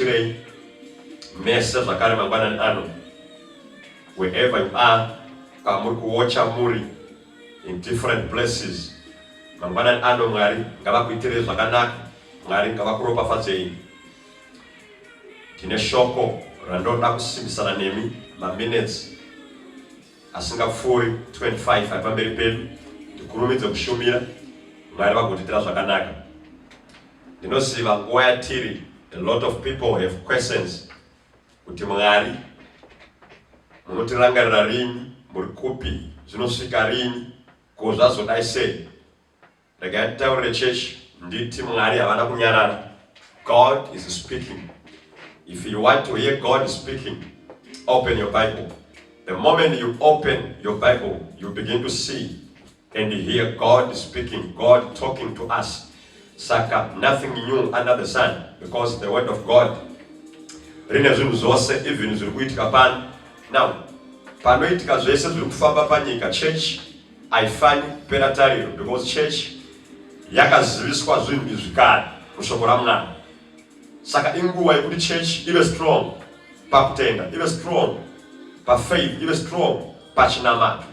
Tirei mese zvakare mangwanani ano wherever you are kwamuri kuocha muri in different places mangwanani ano mwari ngavakuitirei zvakanaka mwari ngavakuropafadzei tine shoko randoda kusimbisana nemi maminutes asingapfuuri 25 ari pamberi pedu tikurumidze kushumira mwari vagotiitira zvakanaka Ndinoziva nguva yatiri, a lot of people have questions kuti Mwari munotirangarira rini, muri kupi, zvinosvika rini, ko zvazodai sei? Regai nditaurire chechi nditi Mwari havana kunyarara. God is speaking. If you want to hear God speaking, open your Bible. The moment you open your Bible, you begin to see And hear God speaking, God talking to us. Saka nothing new under the sun because the word of God rine zvinhu zvose even zviri kuitika pano. Now, panoitika zvese zviri kufamba panyika church haifanyi kupera tariro because church yakaziviswa zvinhu izvi kare mushoko ramwana saka inguva yekuti church ive strong pakutenda ive strong pafaith ive strong pachinamato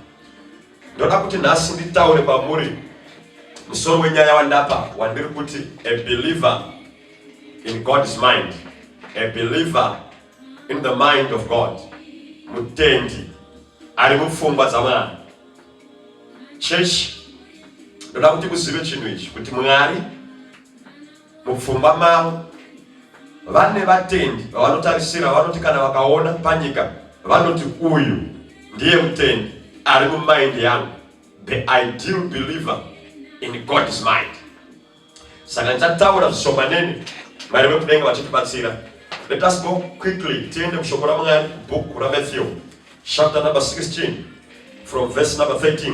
Ndoda kuti nhasi nditaure kwamuri musoro wenyaya wandapa wandiri kuti a believer in God's mind, a believer in the mind of God, mutendi ari mupfungwa dzaMwari. Church, ndoda kuti muzive chinhu ichi kuti Mwari Mupfungwa mavo vane vatendi vavanotarisira vanoti kana vakaona panyika vanoti uyu ndiye mutendi ari mumind yangu the ideal believer in God is mind saka ndichataura zvishomanene mwari vekudenga vachitibatsira let us go quickly tiende mushoko ramwari bhuku ramatthew chapter number 16 from verse number 13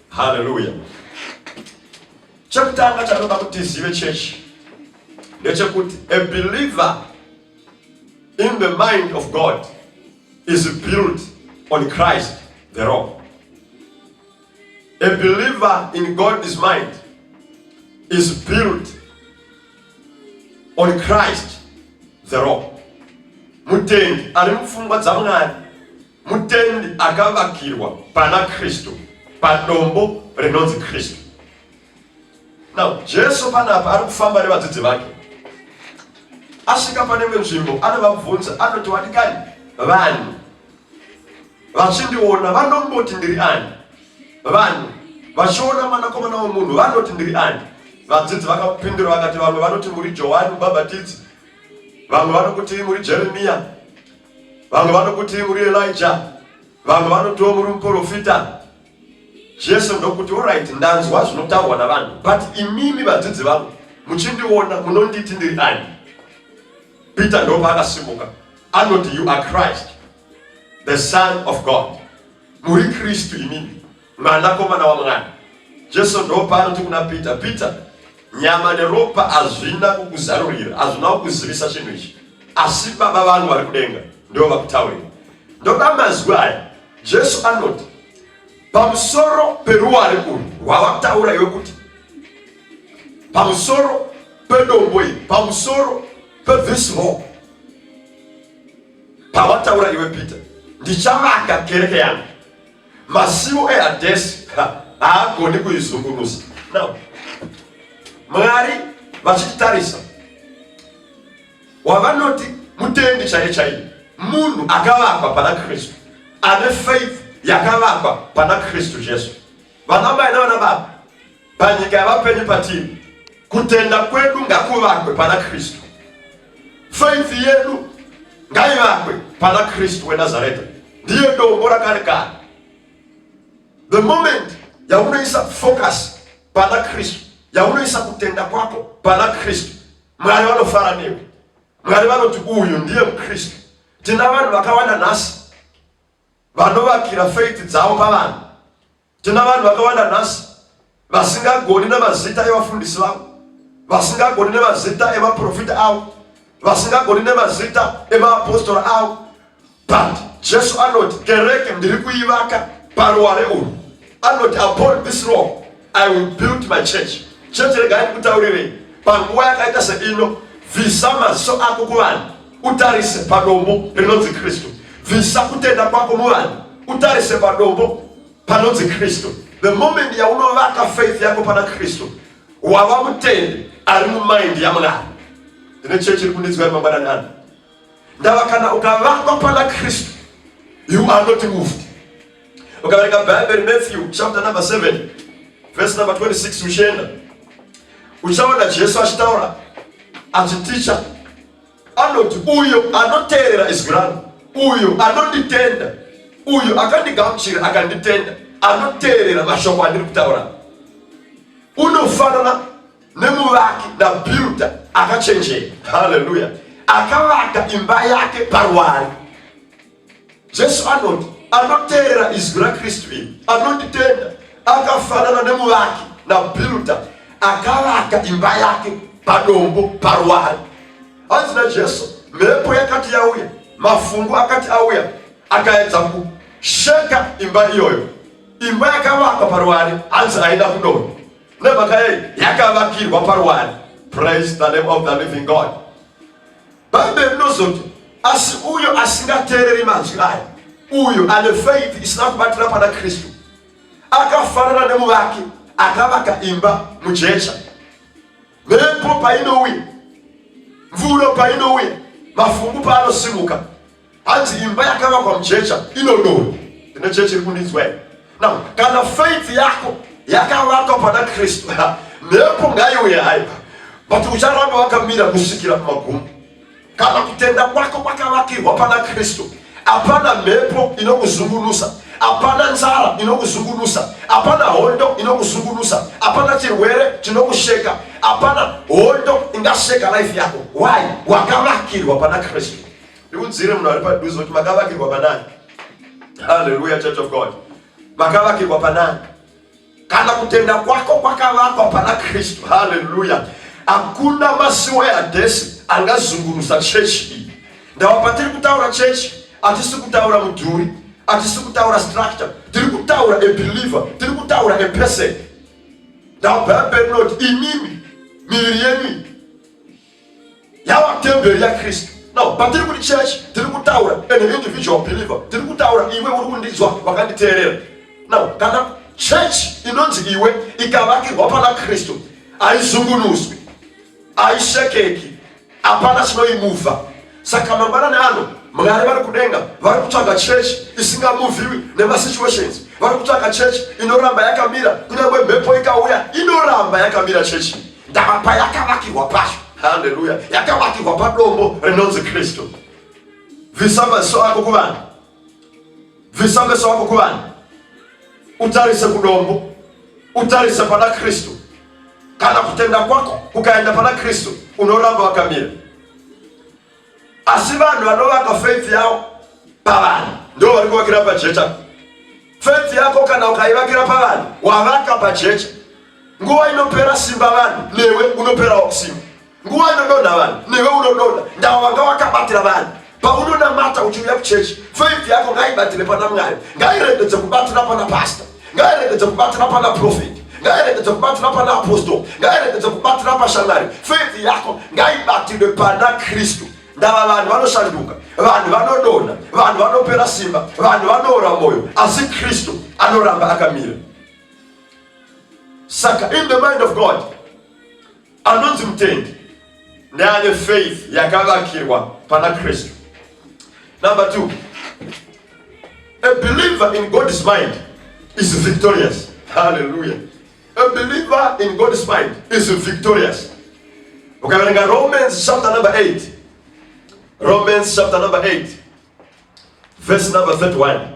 Hallelujah. Chekutanga chanoda kuti tizive chechi ndechekuti a believer in the mind of God is built on Christ the rock. A believer in God's mind is built on Christ the rock. Mutendi ari mupfungwa dzaMwari Mutendi akavakirwa pana Kristu padombo rinonzi Kristu. Now Jesu panapa ari kufamba nevadzidzi vake, asvika pane imwe nzvimbo anovabvunza, anoti wadikani vanhu vachindiona vanomboti ndiri ani? Vanhu vachiona mwanakomana womunhu vanoti ndiri ani? Vadzidzi vakapindura vakati, vamwe vanoti muri Johani Mubhabhatidzi, vamwe vanokuti muri Jeremiya vamwe vanokuti uri elija vamwe vanotiwo muri muprofita jesu ndokuti orit ndanzwa zvinotaurwa navanhu but imimi vadzidzi vangu muchindiona munonditi ndiri ani peter ndopa akasimuka anoti you are christ the son of god muri kristu imimi Mwanakomana wamwana Jesu ndoopaanoti kuna Pita, Pita, nyama neropa hazvina kukuzarurira, hazvina kukuzivisa chinhu ichi, asi Baba vangu vari kudenga ndivo vakutaurira. Ndoda mazwi aya. Jesu anoti pamusoro peruware urwu rwavataura iwe kuti pamusoro pedombo iri pamusoro pethis rock pavataura iwe peter ndichavaka kereke yangu Masiwo eHadhesi haagoni kuizungunusa. Now, Mwari vachititarisa wavanoti mutendi chaiye chaiye munhu akavakwa pana kristu ane faith yakavakwa pana kristu jesu vana mai navana baba panyika yavapenyu patini kutenda kwedu ngakuvakwe pana kristu faith yedu ngaivakwe pana kristu wenazareta ndiye dombo rakare kare the moment yaunoisa focus pana kristu yaunoisa kutenda kwako pana kristu mwari vanofara newe mwari vanoti uyu ndiye mukristu tina vanhu vakawanda nhasi vanovakira faith dzavo pavanhu Tena vanhu vakawanda nhasi vasingagoni nemazita evafundisi vavo, vasingagoni nemazita emaprofita avo, vasingagoni nemazita emaapostora avo, but Jesu anoti kereke ndiri kuivaka paruware urwu, anoti upon this rock I will build my church. Church regai ndikutaurirei, panguva yakaita seino, visa maziso ako kuvanhu utarise padombo rinonzi kristu bvisa kutenda kwako muvanhu utarise padombo panonzi kristu the moment yaunovaka faith yako pana kristu wava mutendi ari mumind yamwari ndine chechi iri kundinzwa yemangwananani ndava kana ukavakwa pana kristu you are not moved ukaverenga bhaibheri matthew chapter number 7 verse number 26 uchienda uchaona jesu achitaura achiticha anoti uyo anoteerera izwi rangu uyo anonditenda uyo akandigamuchira akanditenda anoteerera mashoko andiri kutaura unofanana nemuvaki nabuilda akachenjera haleluya akavaka imba yake paruwari jesu anoti anoteerera izwi rakristu iri anonditenda akafanana nemuvaki nabilda akavaka imba yake padombo paruwari hanzi najesu mhepo yakati yauya mafungu akati auya akaedza kusheka imba iyoyo imba yakavakwa paruwari hanzi aida kudondo nemhaka yei yakavakirwa paruwari praise the name of the living god Bhaibheri rinozoti asi uyo asingateereri manzwi aya uyo ane faith isina kubatira pana kristu akafanana nemuvaki akavaka imba mujecha mhepo painouya mvuro painouya mafungu paanosimuka Hanzi imba yakavakwa mujecha inodonha. Ine chechi iri kundinzwa here? Now, kana faith yako yakavakwa pana Kristu, mhepo ngaiuye haipa. But ucharamba wakamira kusvikira kumagumo. Kana kutenda kwako kwakavakirwa pana Kristu, hapana mhepo inokuzungunusa hapana nzara inokuzungunusa hapana hondo inokuzungunusa hapana chirwere chinokusheka hapana hondo ingasheka life yako why wakavakirwa pana kristu ndiudzire munhu ari padhuze kuti makavakirwa panani haleluya church of god makavakirwa panani kana kutenda kwako kwakavakwa pana kristu haleluya hakuna masiwo ehadhesi angazungunusa chechi iyi ndava patiri kutaura chechi hatisi kutaura mudhuri hatisi kutaura structure tiri kutaura abeliever tiri kutaura aperson ndava bhaibheri rinoti imimi miviri yenyu yava temberi yakristu now patiri kuti church tiri kutaura and an individual believer tiri kutaura iwe uri kundinzwa wakanditeerera now kana church inonzi iwe ikavakirwa pana kristu haizungunuswi haishekeki hapana chinoimuvha Saka mangwanani ano Mwari vari kudenga vari kutsvaga church isingamuviwi nemasituations, vari kutsvaga church inoramba yakamira, kunyange mhepo ikauya inoramba yakamira church ndava payakavakirwa pacho. Haleluya, yakavakirwa padombo rinonzi Kristu. Bvisa maziso ako kuvanhu. Bvisa meso ako kuvanhu, utarise kudombo, utarise pana Kristu. Kana kutenda kwako kukaenda pana Kristu, unoramba wakamira. Asi vanhu vanovaka faith yavo pavanhu ndo vari kuvakira pajecha. Faith yako kana ukaivakira pavanhu, wavaka pajecha. Nguva inopera simba vanhu, newe unoperawo simba. nguva inodonha vanhu newe unodonha ndavo vanga wakabatira vanhu paunonamata uchiuya kuchechi faith yako ngaibatire pana mwari ngairegedze kubatira pana pasta ngairegedze kubatira pana profeti ngairegedze kubatira pana apostol ngairegedze kubatira pashamwari faith yako ngaibatirwe pana kristu ndava vanhu vanoshanduka vanhu vanodonha vanhu vanopera simba vanhu vanoora moyo asi kristu anoramba akamira saka in the mind of god Anonzi mutendi neane faith yakavakirwa pana Kristu. Number two, a believer in God's mind is victorious. Hallelujah. A believer in God's mind is victorious. Ukaverenga Romans chapter number 8. Romans chapter number 8. Verse number 31.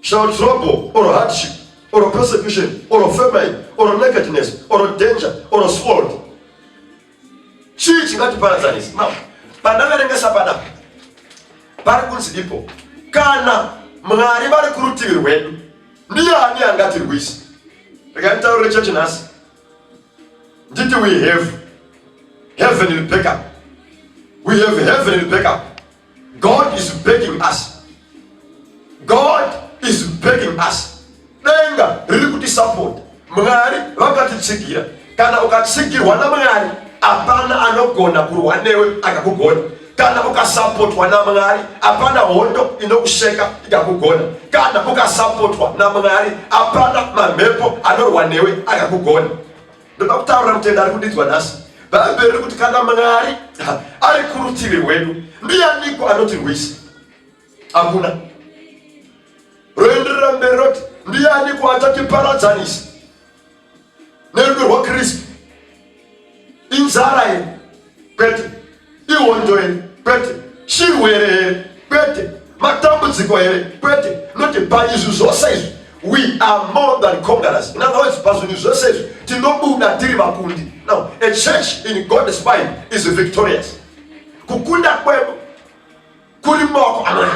Shall trouble or hardship or persecution or famine or nakedness or danger or sword chii chingatiparadzanisa now pandaverengesa padapa pari kunzi dipo kana mwari vari kurutivi rwedu ndiani angatirwisa rikanditaurire chechi nhasi nditi we have heavenly backup we have heavenly backup God is begging us. God is begging us. Denga riri kuti support. Mwari vakatitsigira. Kana ukatsigirwa naMwari, hapana anogona kurwa newe akakugona. Kana ukasapotwa naMwari, hapana hondo inokuseka ikakugona. Kana ukasapotwa naMwari, hapana mamhepo anorwa newe akakugona. ndoda kutaura mutenda ari kudinzwa nhasi bhaibheri riri kuti kana mwari ari kurutivi rwedu ndiyaniko anotirwisa hakuna roenderera mberi roti ndiyaniko achatiparadzanisa nerudo rwakristu inzara ye kwete ihondo here kwete chirwere here kwete matambudziko here kwete noti paizvi zvose izvi we are more than conquerors in other words pazvinhu zvose izvi tinobuda tiri vakundi now a church in god's mind is victorious kukunda kwedu kuri maoko amwari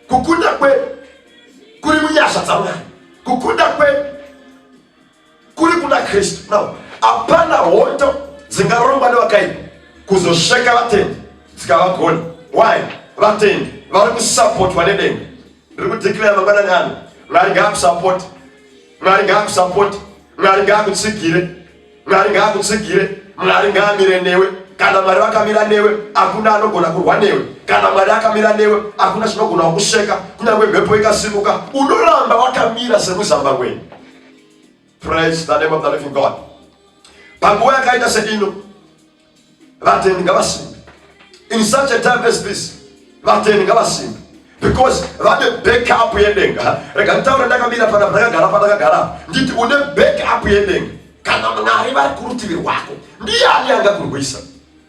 kukunda kwedu kuri munyasha dzamwari kukunda kwedu kuri kuna kristu now hapana hondo dzingarongwa nevakaipa kuzosveka vatendi dzikavagona why vatendi vari kusapotwa nedenga ndiri kudeclare mangwanani ano mwari ngaakusapoti mwari ngaakusapoti mwari ngaakutsigire mwari ngaakutsigire mwari ngaamire newe kana mwari vakamira newe hakuna anogona kurwa newe kana mwari akamira newe hakuna chinogona wakuseka kunyange mhepo ikasimuka unoramba wakamira semuzamba wenyu Praise the name of the living God. Panguva yakaita seino, vatendi ngavasimbe. In such a time as this, vatendi ngavasimbe because vane backup yedenga. Rega nditaure ndakamira pana ndakagara pandakagara nditi une backup yedenga. Kana Mwari vari kurutivi rwako, ndiani angakurwisa?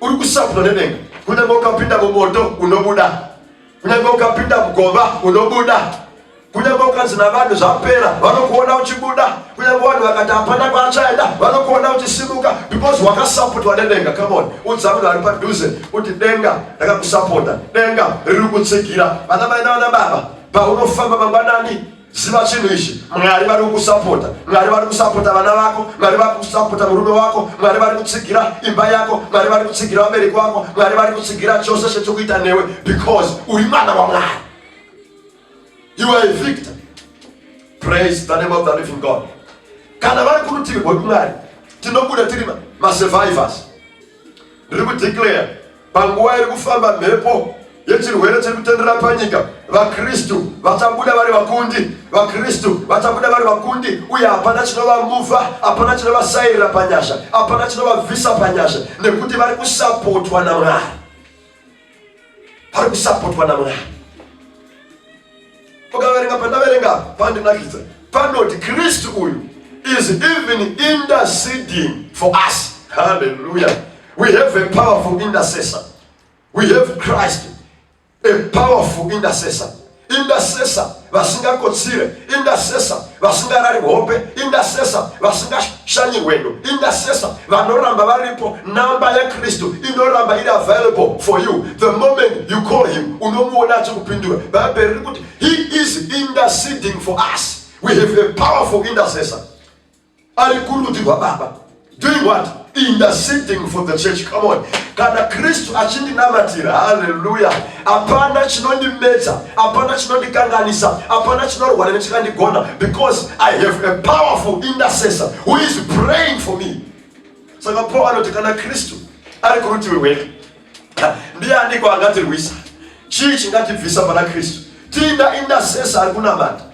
uri kusapwa nedenga kunyange ukapinda mumoto unobuda kunyange ukapinda mugova unobuda kunyange ukanzi navanhu zvapera vanokuona uchibuda kunyange vanhu vakati hapana kwaachaenda vanokuona uchisimuka because wakasapotwa nedenga camon udza munhu ari padhuze kuti denga rakakusapota denga riri kutsigira vana mai navana baba paunofamba mangwanani ziva chinhu ichi mwari vari kukusapota mwari vari kusapota vana vako mwari vari kusapota murume wako mwari vari kutsigira imba yako mwari vari kutsigira vabereki wako mwari vari kutsigira chose chechikuita newe because uri mwana wamwari you are a victor praise the name of the living god kana vari kurutivi rwedu mwari tinobuda tiri masurvivors Ndiri kudeclare panguva iri kufamba mhepo yechirwere chiri kutenderera panyika vakristu vachabuda vari vakundi vakristu vachabuda vari vakundi uye hapana chinovamuvha hapana chinovasairira panyasha hapana chinovabvisa panyasha nekuti vari kusapotwa namwari pari kusapotwa namwari pakaverenga pandaverenga pandinakidza panoti kristu uyu is even interceding for us haleluya we have a powerful intercessor we have christ a powerful intercessor indasesa vasingakotsire indasesa vasingarari hope indasesa vasingashanyirwendo indasesa vanoramba varipo namba yakristu inoramba iri available for you the moment you call him unomuona achikupindura bhaibheri riri kuti he is interceding for us we have a powerful intercessor ari kurudyi rwababa doing what interceding for the church come on kana kristu achindinamatira haleluya hapana chinondimedza hapana chinondikanganisa hapana chinorwara nechikandigona because i have a powerful intercessor who is praying for me saka paul anoti kana kristu ari kurutiwe weka ndiye andiko angatirwisa chii chingatibvisa pana kristu tiinda intercessor ari kunamata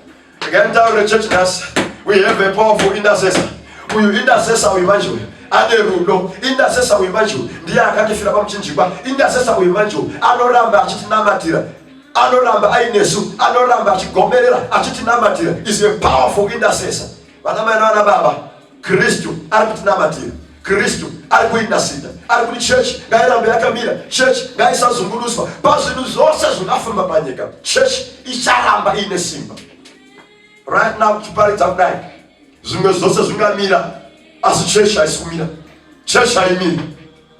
Again down the church nurse. We have a powerful intercessor. Uyu intercessor uyu manje uyu ane rudo intercessor uyu manje uyu ndiye akatifira pamuchinjikwa intercessor uyu manje uyu anoramba achitinamatira anoramba ainesu anoramba achigomerera achitinamatira is a powerful intercessor vana mai navana baba Kristu ari kutinamatira. Kristu ari kuindasinda, ari kuti chechi ngairambe yakamira, chechi ngaisazungunuswa pazvinhu zvose zvingafamba panyika. Chechi icharamba iine simba. Right now tichiparidza kudai, zvimwe zvose zvingamira, asi chechi haisi kumira. Chechi haimiri.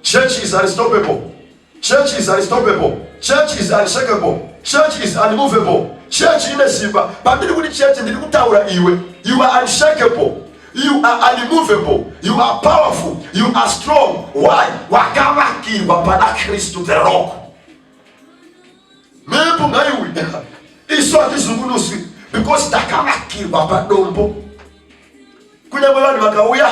Chechi is unstoppable. Church is unstoppable. Church is unshakable. Church is unmovable. Church ine simba. Pandiri kuti church ndiri kutaura iwe. You are unshakable. You are unmovable. You are powerful. You are strong. Why? Wakavakirwa pana Kristu the rock. Mhepo ngaiuya. Isu hatizungunuswi because takavakirwa padombo. Kunyangwe vanhu vakauya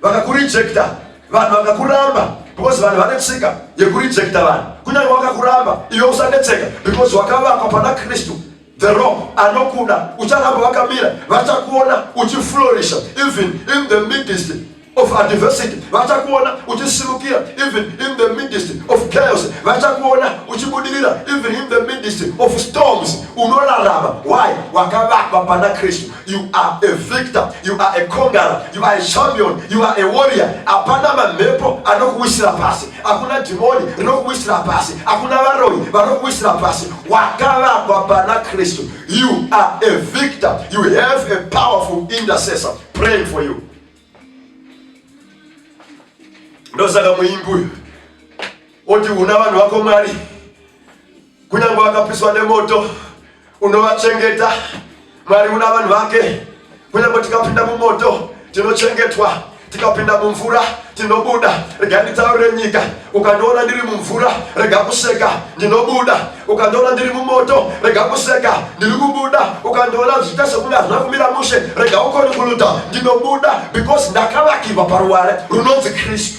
vakakurejecta, vanhu vakakuramba because vanhu vane tsika yekurejecta vanhu. Kunyangwe vakakuramba iwe usanetseka because wakavakwa pana Kristu. The rock anokuda ucharamba wakamira vachakuona uchiflorisha even in the midst of adversity vachakuona uchisimukira even in the midst of chaos vachakuona uchibudirira even in the midst of storms unorarama why wakavakwa pana kristu you are a victor you are a conqueror you are a champion you are a warrior hapana mamhepo anokuwisira pasi hakuna dhimoni rinokuwisira pasi hakuna varoyi vanokuwisira pasi wakavakwa pana kristu you are a victor you have a powerful intercessor praying for you ndosaka muimbi uyu oti una vanhu vako mwari Kunyange vakapiswa nemoto unovachengeta. Mwari una vanhu vake. Kunyange tikapinda mumoto tinochengetwa, tikapinda mumvura tinobuda. Rega nditaurire nyika, ukandiona ndiri mumvura rega kuseka, ndinobuda. Ukandiona ndiri mumoto rega kuseka, ndiri kubuda. Ukandiona zviita sekunge hazvina kumira mushe rega ukonikuluta, ndinobuda because ndakavakirwa paruware runonzi Kristu.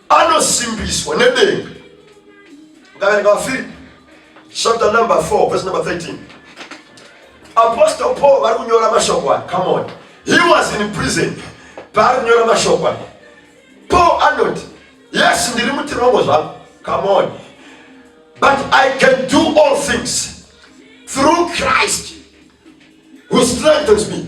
anosimbiswa nedenga ngavere ngavafiri chapter number 4 verse number 13 apostle paul vari kunyora mashoko aya come on he was in prison paari kunyora mashoko aya paul anoti yes ndiri mutirongo zvangu come on but i can do all things through christ He strengthens me.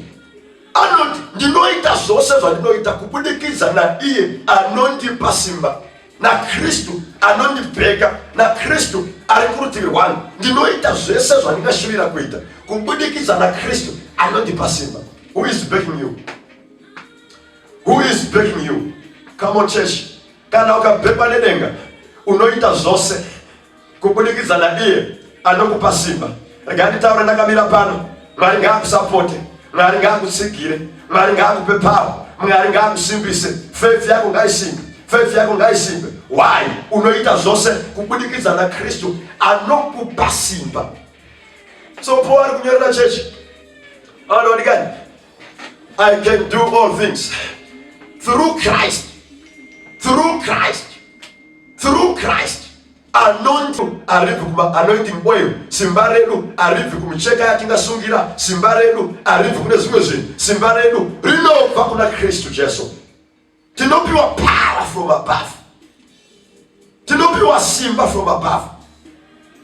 Anoti ndinoita zvose zvandinoita kubudikidza naiye anondipa simba naKristu anondibheka naKristu ari kurutivi rwangu. Ndinoita zvese zvandingashuvira kuita kubudikidza naKristu anondipa simba. Who is backing you? Who is backing you? Come on church. Kana ukabhekwa nedenga unoita zvose kubudikidza naiye anokupa simba rega nditaura ndakamira pano mwari ngaakusapote mwari ngaakutsigire mwari ngaakupe pawa mwari ngaakusimbise fefi yako ngaisimbe fefi yako ngaisimbe why unoita zvose kubudikidza nakristu anokupa simba so po ari kunyorera chechi anowadikani I can do all things through Christ, through Christ, through Christ. Anointing aribvi kuma anointing oil, simba redu aribvi kumicheka yatingasungira, simba redu aribvi kune zvimwe zvinhu, simba redu rinobva kuna Kristu Jesu. tinopiwa power from above tinopiwa simba from above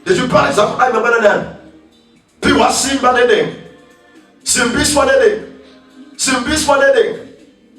ndichiparidza kudai mangwananani piwa simba nedenga simbiswa nedenga simbiswa nedenga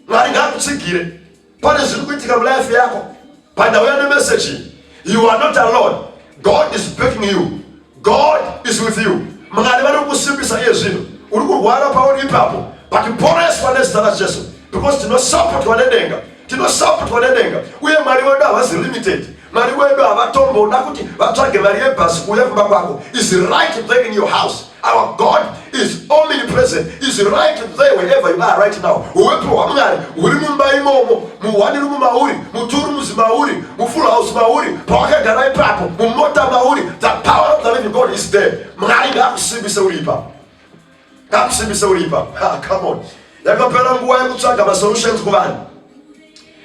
mwari ngaakutsigire pane zviri kuitika mulife yako pandauya nemeseji you are not alone god is backing you god is with you mwari vari kukusimbisa iye zvino uri kurwara pauri ipapo but poreswa nezita rajesu because tinosapotwa nedenga tinosapotwa nedenga uye mwari wedu havazi limited mwari wedu havatomboda kuti vatsvage mari yebhasi kuuya kumba kwako is right back in your house Our God is omnipresent, is right there wherever you are right now. Uwepo hwaMwari huri mumba imomo, muhwani rumu mauri, muturu muzi mauri, mufull house mauri, pawakagara ipapo, mumota mauri. The power of the living God is there. Mwari ngakusimbise uri ipapo, ngakusimbise uri ipapo. Ha, come on. Yakapera nguva yekutsvaga masolutions kuvanhu,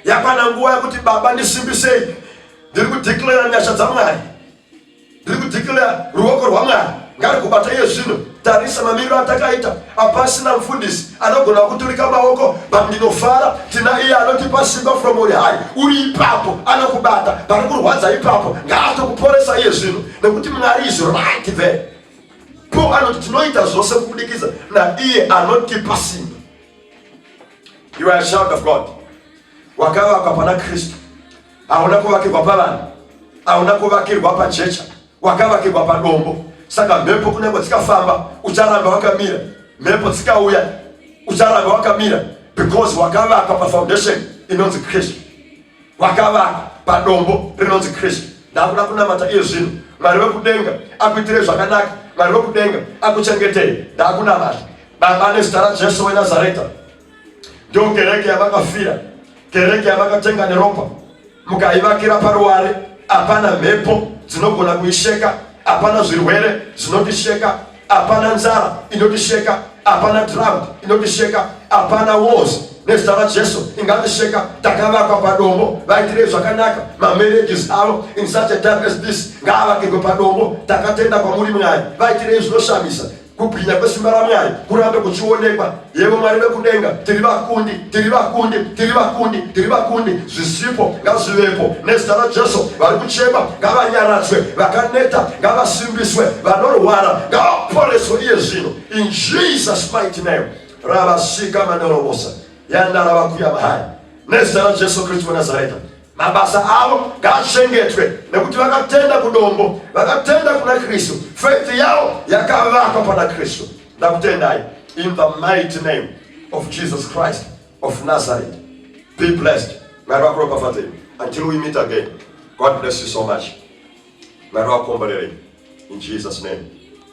yakwana nguva yekuti Baba ndisimbisei, ndiri kudeclare nyasha dzaMwari. Ndiri kudeclare ruoko rwaMwari ngarikubata iye zvino. Tarisa mamiriro atakaita apasina mfundisi anogona kuturika maoko but ndinofara tina iye anotipa simba from on high uri ipapo anokubata pari kurwadza ipapo ngaatokuporesa iye zvino nekuti mwari is right there po anoti tinoita zvose kubudikidza naiye anotipa simba you are a child of god wakavakwa pana kristu hauna kuvakirwa pavanhu hauna kuvakirwa pajecha wakavakirwa padombo saka mhepo kunyange dzikafamba ucharamba wakamira mhepo dzikauya ucharamba wakamira because wakavakwa pafoundation inonzi kristu wakavakwa padombo rinonzi kristu ndakuda kunamata iye zvino mwari wekudenga akuitire zvakanaka mwari wekudenga akuchengetei ndakunamata baba nezita rajesu wenazareta ndiyo kereke yavakafira kereke yavakatenga neropa mukaivakira paruware hapana mhepo dzinogona kuisheka hapana zvirwere zvinotisheka hapana nzara inotisheka hapana drought inotisheka hapana wars nezita rajesu ingatisheka takavakwa padombo vaitirei zvakanaka mamarriages avo in such a time as this ngaavakirwe padombo takatenda kwamuri mwari vaitirei zvinoshamisa Kubwinya kwesimba raMwari kurambe kuchionekwa. Yebo Mwari vekudenga, tiri vakundi, tiri vakundi, tiri vakundi, tiri vakundi. Zvisipo ngazvivepo nezita raJesu. Vari kuchema ngavanyaradzwe, vakaneta ngavasimbiswe, vanorwara ngavaporeswe iye zvino. In Jesus mighty name. Ravasika mandorobosa yandarava kuya mahari nezita raJesu Kristu weNazareta. Mabasa avo ngaachengetwe nekuti vakatenda kudombo, vakatenda kuna Kristu. Faith yavo yakavakwa pana Kristu. Ndakutendai in the mighty name of Jesus Christ of Nazareth. Be blessed. Mwari vakuropafadzei until we meet again. God bless you so much. Mwari vakukomborerei in Jesus name.